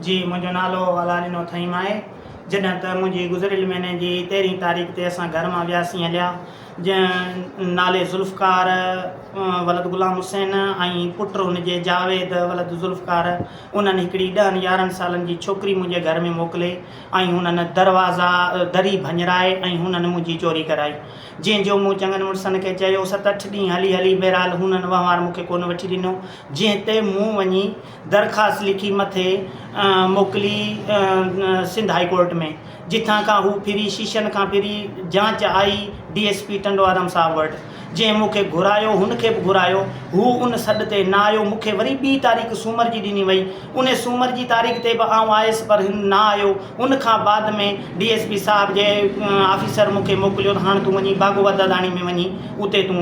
جي منهنجو نالو الا ڏنو اٿائيم آهي. جڏهن ته منهنجي گذريل مهيني جي تيرهين تاريخ تي اسان گهر مان وياسين هليا جنهن نالي ذوالفقار ولد غلام حسين ۽ پٽ ان جي جاويد ولد ذوالفقار انهن هڪڙي ڏهن يارهن سالن جي ڇوڪري منهنجي گهر ۾ موڪلي ۽ هنن دروازا دري ڀڃرائي ۽ هنن منهنجي چوري ڪرائي جنهن جو مون چڱن مڙسن کي چيو ست اٺ ڏينهن هلي هلي بهرحال هنن وهنوار مونکي ڪونه وٺي ڏنو جنهن تي مون وڃي درخواست لکي مٿي موڪلي سنڌ هاء ڪورٽ ۾ جتان کان هو ڦري شيشن کان ڦري جاچ آئي ڊي ايس پي ٽنڊوارام صاحب وٽ جنهن مون کي گهرايو هن کي به گهرايو هو ان سڏ تي نه آيو مون کي وري ٻي تاريخ سومر جي ڏني وئي ان سومر جي تاريخ تي به آئون آيس پر هن نه آيو ان کان بعد ۾ ڊي ايس پي صاحب جي آفيسر مون کي موڪليو ته هاڻ تون وڃي باگوبا داداڻي ۾ وڃي اتي تون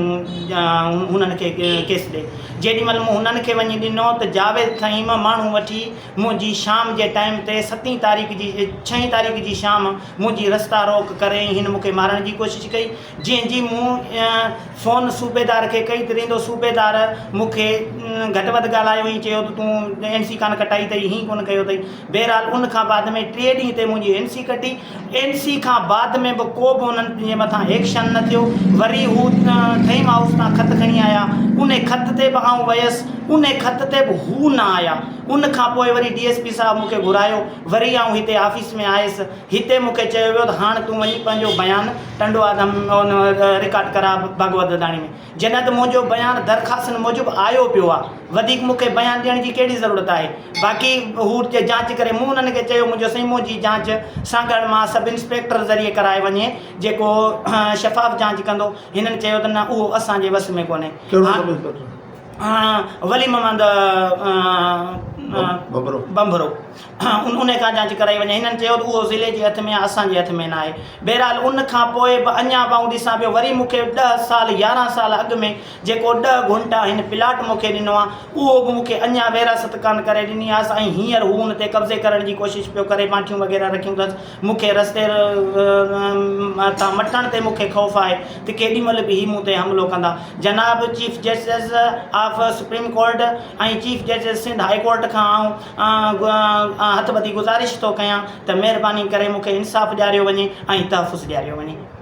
هنن کي ڪيس ڏي جيڏي مھل مون ھنن کي وڃي ڏنو ته جاويد کئين ٻه ماڻھو وٺي منھنجي شام جي ٽائيم تي ستين تاريخ جي ڇھين تاريخ جي شام منھنجي رستا روڪ ڪري ۽ ھن مونکي مارڻ جي ڪوشش ڪئي جنھن جي مون فون صوبيدار کي ڪئي ته ريندو صوبيدار مونکي گھٽ وڌ ڳالھايو ۽ چيو ته تون اين سي ڪانه ڪٽائي اٿئي ھين ڪونه ڪيو اٿئي بھرحال ان کان بعد ۾ ٽي ڏينھن تي منھنجي اين سي ڪٽي اين سي کان بعد ۾ به ڪو به انهن جي مٿان ايڪشن نه ٿيو وري هو ٿهيم هائوس تان خط کڻي آيا انهي خط تي به آئون ويس انهي خط تي به هو نه آيا ان کان پوء وري ڊي ايس پي صاحب مون کي گهرايو وري آئون هتي آفيس ۾ آيس هتي مون کي چيو ويو ته هاڻ تون وڃي پنهنجو بيان ٽنڊو آدم ۾ رڪارڊ ڪراء ڀڳوت دداڻي ۾. جڏهن ته منهنجو بيان درخواستن موجب آيو پيو آ وڌيڪ مون کي بيان ڏيڻ جي ڪهڙي ضرورت آهي باقي هو جاچ ڪري مون انهن کي چيو منهنجو سائين منهنجي جاچ سانگهڙ مان سب انسپيڪٽر ذريعي ڪرائي وڃي جيڪو شفاف جاچ ڪندو هنن چيو ته نه اهو اسان جي وس ۾ ڪونهي ڪهڙو سب انسپيڪٽر؟ ولي محمد ٻنڀرو. ان کان جاچ ڪرائي وڃي. هنن چيو ته اهو ضلعي جي هٿ ۾ آهي، اسان جي هٿ ۾ ناهي. بهرحال ان کان پوء به اڃا به آئون ڏسان پيو. وري مون کي ڏهه سال، يارهن سال اڳ ۾ جيڪو ڏهه گهنٽا هن پلاٽ مون کي ڏنو آهي، اهو به مون کي اڃا وراثت ڪانه ڪري ڏني آهيس ۽ هينئر هو ان تي قبضي ڪرڻ جي ڪوشش پيو ڪري. ماٺيون وغيره رکيون اٿس. مون کي رستي تان مٽڻ تي مون کي خوف آهي ته ڪيڏي مهل به هي مون تي حملو ڪندا. جناب chief justice of supreme court ۽ chief justice Sindh high court کان آئون آء هٿ ٻڌي گذارش ٿو ڪيان ته مهرباني ڪري مون کي انصاف ڏياريو وڃي ۽ تحفظ ڏياريو وڃي.